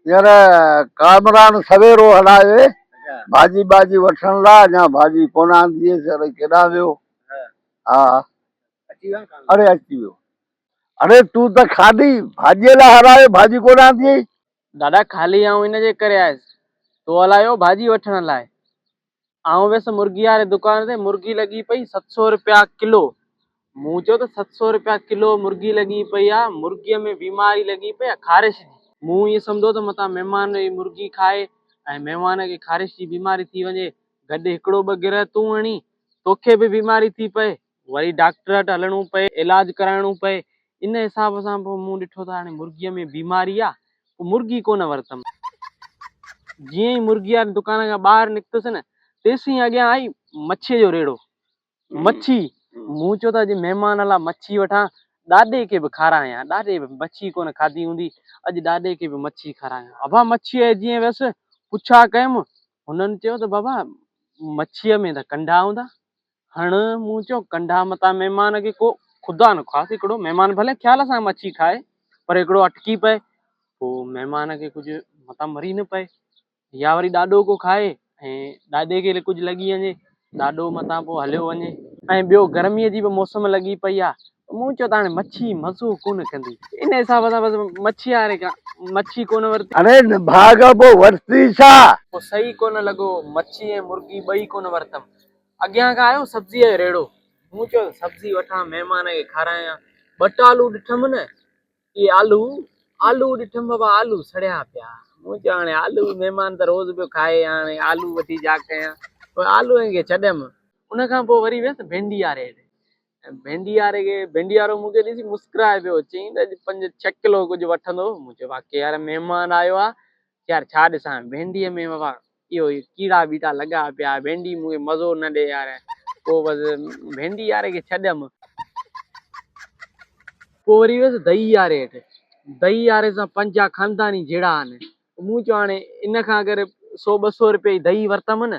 يار ڪامران سويرو هلائي ڀاڄي ٻاڄي وٺڻ لا اڃا ڀاڄي ڪونه آندي هيس اڙي ڪيڏانهن ويو ها اچي ويو اڙي اچي ويو اڙي تون ته کاڏي ڀاڄي لا هلائي ڀاڄي ڪونه آندي دادا خالي آئون ان جي ڪري آيس تو هلايو ڀاڄي وٺڻ لاء آئون ويس مرغي واري دڪان تي مرغي لڳي پئي ست سو روپيا ڪلو مون چيو ته ست سو روپيا ڪلو مرغي لڳي پئي آ مرغي ۾ بيماري لڳي پئي آ خارش جي مون ائين سمجهو ته متان مهمان هي مرغي کائي ۽ مهمان کي خارش جي بيماري ٿي وڃي گڏ هڪڙو ٻه گرهه تون هڻي توکي به بيماري ٿي پئي وري ڊاڪٽر وٽ هلڻو پئي علاج ڪرائڻو پئي ان حساب سان پوء مون ڏٺو ته هاڻي مرغيء ۾ بيماري آ پوء مرغي ڪونه ورتم جيئن ئي مرغي واري دڪان کان ٻاهر نڪتس نه تيسين اڳيان آئي مڇيء جو ريڙهو مڇي مون چيو ته اڄ مهمان لا مڇي وٺان ڏاڏي کي به کارايان ڏاڏي به مڇي ڪونه کاڌي هوندي اڄ ڏاڏي کي به مڇي کارايان ابا مڇيء جيئن ويس پڇا ڪيم هنن چيو ته بابا مڇيء ۾ ته ڪنڊا هوندا هڻ مون چيو ڪنڍا متان مهمان کي ڪو خدا نخواست هڪڙو مهمان ڀلي خيال سان مڇي کائي پر هڪڙو اٽڪي پئي پوء مهمان کي ڪجهه متان مري نه پئي يا وري ڏاڏو ڪو کائي ۽ ڏاڏي کي ڪجهه لڳي وڃي ڏاڏو متان پوء هليو وڃي ۽ ٻيو گرميء جي به موسم لڳي پئي آ مون چيو ته هاڻي مڇي مزو ڪونه ڪندي ان حساب سان بس مڇي هاري کان مڇي ڪونه ورتي هاڻي نڀاڳ پوء ورتي ڇا؟ پوء صحيح ڪونه لڳو مڇي ۽ مرغي ٻئي ڪونه ورتم اڳيان کان آيو سبزيء جو ريڙهو. مون چيو ته سبزي وٺان مهمان کي کارايان. ٻه ٽه آلو ڏٺم نه، اهي آلو، آلو ڏٺم بابا آلو سڙيا پيا. مون چيو هاڻي آلو مهمان ته روز پيو کائي هاڻي آلو وٺي ڇا ڪيان؟ پوء آلوئن کي ڇڏيم. ان کان پوء وري ويس ڀينڊياري ڏي. ڀينڊياري کي، ڀينڊيارو مون کي ڏسي مسڪرائي پيو. چيائين ته اڄ پنج ڇهه ڪلو ڪجهه وٺندو. مون چيو واقعي يار مهمان آيو آ، يار ڇا ڏسان ڀينڊيء ۾ بابا اهو ڪيڙا ٻيٽا لڳا پيا ڀينڊي مون کي مزو نه ڏي يار پوء بس ڀينڊي يار کي ڇڏيم. پوء وري ويس دئي ياري هيٺ دئي ياري سان پنجاهه خانداني جهيڙا آهن مون چيو هاڻي ان کان اگر سو ٻه سو رپيا جي دئي ورتم نه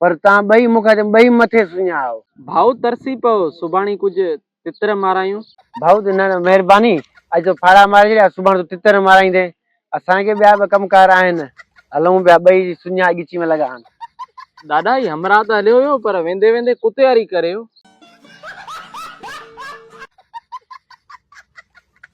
پر تان ٻئي مون کان چيو ٻئي مٿي سڃاهو. ڀائو ترسي پئو سڀاڻي ڪجهه تتر مارايون. ڀائو چيو نه نه مهرباني اڄ تون ڦاڙها ماري ڇڏيا سڀاڻي تون تتر مارائيندين اسان کي ٻيا به ڪم ڪار آهن هلون پيا ٻئي سڃاهه ڳچي ۾ لڳا آن. ڏاڏا هي همراهه ته هليو ويو پر ويندي ويندي ڪتي واري ڪريو.